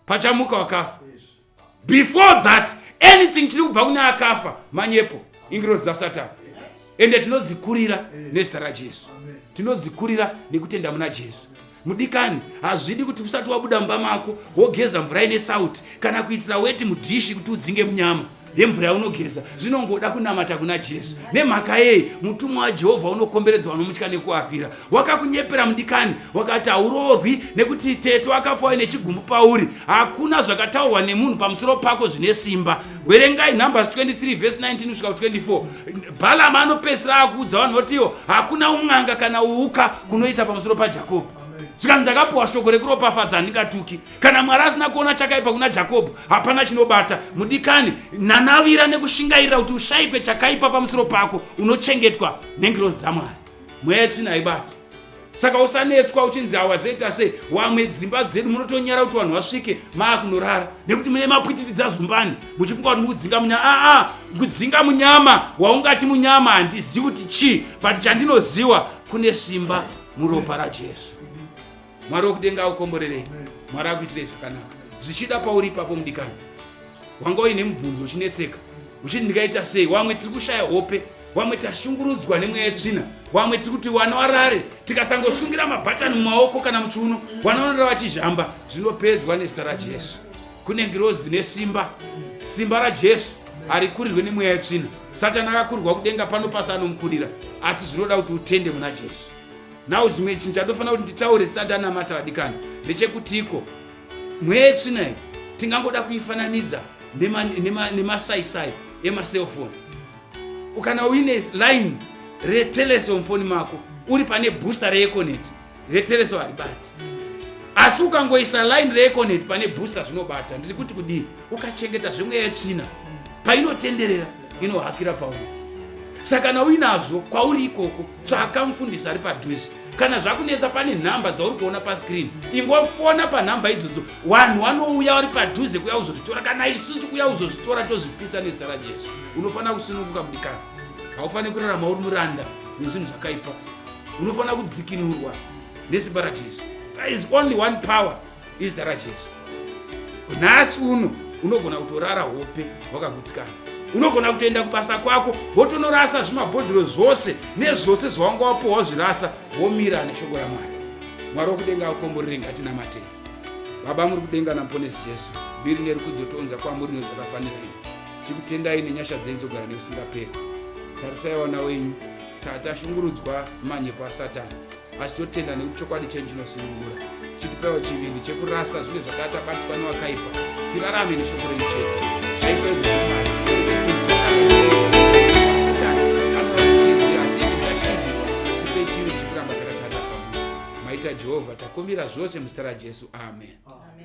pachamuka wakafa before that anything chiri kubva kune akafa manyepo ingirozi dzasatani ende tinodzikurira nezita rajesu tinodzikurira nekutenda muna jesu mudikani hazvidi kuti usati wabuda mumba mako wogeza mvura ine sauti kana kuitira weti mudhishi kuti udzinge munyama yemvura yaunogeza zvinongoda kunamata kuna jesu nemhaka yei mutumwa wajehovha unokomberedza vanomutya nekuapira wakakunyepera mudikani wakati hauroorwi nekuti tete wakafa waine chigumbu pauri hakuna zvakataurwa nemunhu pamusoro pako zvine simba werengai numbers 23 vhesi 19 kusvika 24 bhalama anopesira akuudza vanhu votiwo hakuna umwanga kana uuka kunoita pamusoro pajakobho zvikanzi ndakapiwa shoko rekuropafadza handingatuki kana mwari asina kuona chakaipa kuna jakobho hapana chinobata mudikani nanavira nekushingairira kuti ushaikwe chakaipa pamusoro pako unochengetwa nengirozi dzamwari mweya yetsvina haibati saka usanetswa uchinzi hawazoita sei wamwe dzimba dzedu munotonyara kuti vanhu vasvike maakunorara nekuti mune mapwitiridza zumbani muchifunga kuti mukudzinga munyama aa ah, kudzinga ah, munyama waungati munyama handizivi kuti chii but chandinoziwa kune simba muropa rajesu mwari wekudenga aukomborerei mwari akuitirei zvakanaka zvichida pauri ipapo mudikani wanga uine mubvunzo uchinetseka uchiti ndikaita sei wamwe tiri kushaya hope wamwe tashungurudzwa nemweya yetsvina wamwe tiri kuti wana warare tikasangosungira mabhatani mumaoko kana muchiuno wanaonera vachizhamba zvinopedzwa nezita rajesu kune ngirozi dzine simba simba rajesu harikurirwe nemweya yetsvina satani akakurirwa kudenga pano pasi anomukurira asi zvinoda kuti utende muna jesu now chimwe chinhu chandofanira kuti nditaure tisati anamata vadikani ndechekutiko mwetsvina iyi tingangoda kuifananidza nemasaisai emacelfoni ukana uine line retelesomfoni mako uri pane booster reeconet retelesomharibati asi ukangoisa line reeconet pane booster zvinobata ndiri kuti kudii ukachengeta zvemweya yetsvina painotenderera inohakira pauri saka kana uinazvo kwauri ikoko tsvaka mufundisi ari padhuze kana zvakunetsa pane nhamba dzauri kuona pascreen ingofona panhamba idzodzo vanhu vanouya vari padhuze kuya kuzozvitora kana isusu kuya kuzozvitora tozvipisa nezita rajesu unofanira kusununguka mudikana haufaniri kurarama uri muranda nezvinhu zvakaipa unofanira kudzikinurwa nesimba rajesu there is only one power izita rajesu nhasi uno unogona kutorara hope wakagutsikana unogona kutoenda kubasa kwako wotonorasa zvimabhodhiro zvose nezvose zvawanga wapohwa zvirasa womira neshoko ramwari mwari wokudenga akomborere ngatina matei baba muri kudenga namuponesi jesu mbiri nerukudzo tounza kwamuri nezvakafanira ini tikutendai nenyasha dzenyu dzogara neusingaperi tarisai wana wenyu tata shungurudzwa manyepo asatani vachitotenda nekuti chokwadi chenyu chinosunungura chitipewo chivindi chekurasa zvinhu zvakatabatiswa newakaipa tirarame neshoko renyu chete zvaitwa izvo jehovha takumbira zvose muzita rajesu amen, amen.